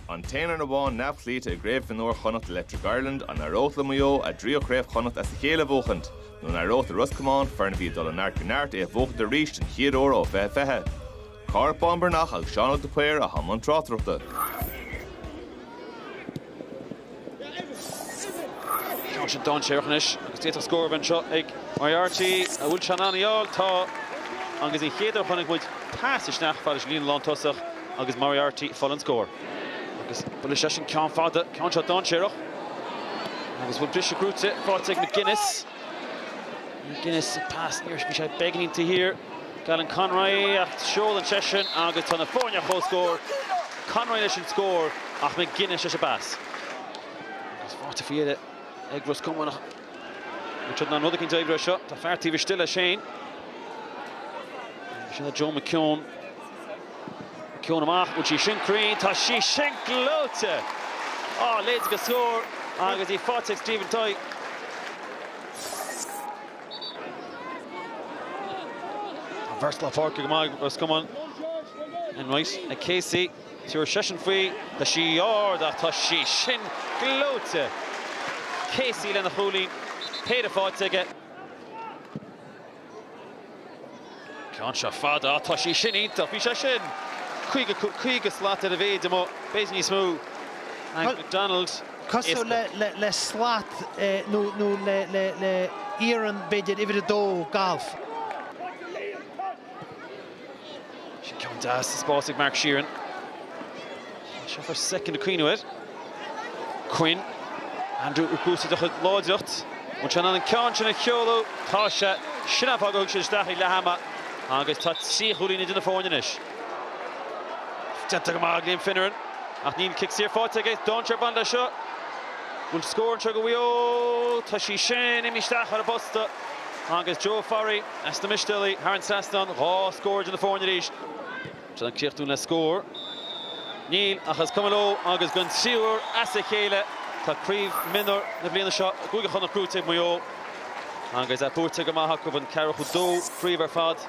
An t-aon fhoireann amháin neamhchloíte i gCraobh Mhionúir Chonnacht Electric Ireland, an éireodh le Maigh Eo a dtríú Craobh Chonnacht as a chéile a bhuachaint? Nó an éireodh le Ros Comáin, foireann a bhí ag dul ó neart go neart, é a bhuachaint arís den chéad uair ó 2020? Cárthach Bán Breathnach agus Seán Óg de Paor atá i mbun tráchtaireachta. Ceann seo dainséarach anois agus d'fhéadfadh scór a bheith anseo ag Moriarty. An bhfuil sé in ann í a fháil? Tá agus an chéad uair a chonaic muid pas isteach fad leis an líne lántosach agus Moriarty ag fáil an scóir. Agus Walsh leis an ceann fada, ceann seo dainséarach. Agus bhfuil bris gnóite faighte ag McGuinness? McGuinness, an pas níor, bhí sé beagáinín taobh thiar. d'Alan Conroy ach seolann seisean agus tá na foirne ar chomhscór, Conroy leis an scór ach McGuinness leis an bpas. Agus faighte faoi dheireadh ag Ros Comáin ach níl siad in ann rud eicínt a oibriú as seo. Tá fear taobh istigh le Shane. Sin é Joe McKeown. McKeown amach, bhfuil sí sin cruinn? Tá sí sin gleoite! A leithéid de scór agus í faighte ag Stephen Tighe. Tá beirt lár páirce go maith ag Ros Comáin. Enright ag Casey. Tiúrfaidh seisean faoi, tá sí ard ach tá sí sin gleoite! Casey lena chúilín, péire faighte aige. Ceann seo fada, á tá sí sin iontach, bhí sé sin caoga, caoga slat ar a mhéid amuigh, b'fhéidir níos mó, ag McDonald, cosúil le, le, le slat eh nó, nó le, le, le iarann b'fhéidir, uimhir a dó, galf. Sin ceann deas sa spás ag Mark Sheerin. Seo first second ag caoineadh air. Quinn, Andrew ag úsáid a chuid láidreacht. Bhfuil sé in ann an ceann sin a sheoladh. Tá sé, sin an fáth gur thug siad isteach é ag leath ama agus tá trí chúilín idir na foirne anois. Déanta go maith ag Liam Finneran ach níl cic saor faighte aige. Dainséar ag baint leis seo. Bhfuil scór anseo go Mhaigh Eo? Tá sí sin imithe isteach thar an bposta agus Joe Forry as na Mistéalaigh thar an trasnán. Dhá scór idir na foirne arís. Sé ag críochnú le scór. Níl, ach is cuma leo agus don tríú uair as a chéile tá craobh mionúr na bliana seo i gCúige Chonnacht gnóite ag Maigh Eo agus é buaite go maith acu, an ceathracha dó craobh ar fad.